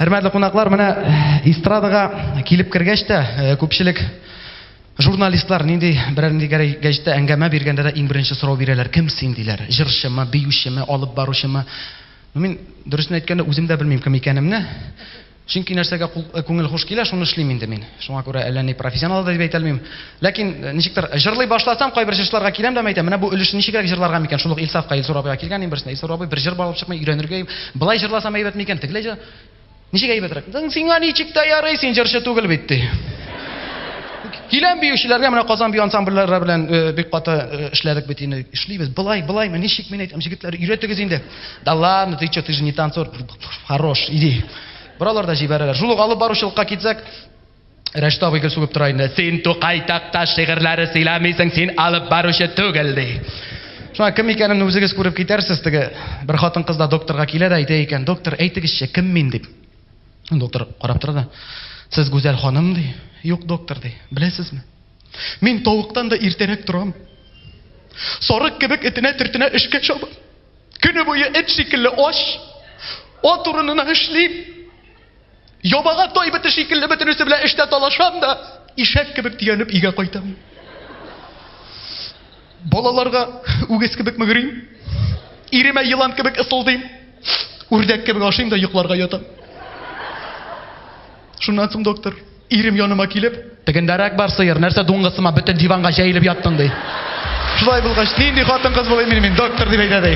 Хөрмәтле кунаклар, менә эстрадага килеп кергәч тә, э, күпчелек журналистлар нинди берәр нинди гәрәй гәҗиттә әңгәмә биргәндә дә иң беренче сорау бирәләр, кем син диләр? Җырчымы, биючеме, алып баручымы? Ну, мин дөресен әйткәндә үзем дә белмим кем икәнемне. Чөнки нәрсәгә кул- э, күңел хуш килә, шуны эшлим инде мин. Шуңа күрә әллә ни профессионал да дип әйтә алмыйм. Ләкин э, ничектер җырлый башласам, кайбер җырчыларга киләм дә әйтәм, менә бу өлешне ничегрәк җырларга микән? Шул ук Илсафка Илсур абыйга килгән берсенә. Илсур абый бер җыр барып чыкмый, өйрәнергә. Былай җырласам әйбәт микән? Тегеләй җыр. Ничек әйбәтрәк? Ның сиңа ничек тә ярый, син җырчы түгел бит ди. Киләм биючеләргә менә Казан бию ансамбльләре белән э, бик каты э, эшләдек бит инде. Эшлибез. Былай, былай, менә ничек мин әйтәм, җегетләр, өйрәтегез инде. Да ладно, ты что, ты же не танцор. Хорош, иди. Боралар да җибәрәләр. Шул ук алып баручылыкка китсәк, Рәшит абый гел сүгеп тора инде. Син, Тукай, Такташ шигырьләре сөйләмисең, син алып баручы түгел, ди. Шуңа кем икәнемне үзегез күреп китәрсез, теге бер хатын-кыз да докторга килә дә әйтә икән, доктор, әйтегезче, кем мин, дип. Доктор карап тора да, сез Гүзәл ханым, ди. Юк, доктор, ди. Беләсезме? Мин тавыктан да иртәрәк торам. Сарык кебек этенә төртенә эшкә чабам. Көне буе эт шикелле ач. Ат урынына эшлим. Ябага тай бете шикелле бөтенесе белән эштә талашам да, ишәк кебек төянеп өйгә кайтам. Балаларга үгез кебек мөгерим, иремә елан кебек ысылдыйм, үрдәк кебек ашыйм да йокларга ятам. Шуннан соң доктор, ирем яныма килеп, Тегендәрәк бар сыер, нәрсә дуңгыз сыман бөтен диванга җәелеп яттың, ди. Шулай булгач, нинди хатын-кыз булыйм мин, мин доктор дип әйтә, ди.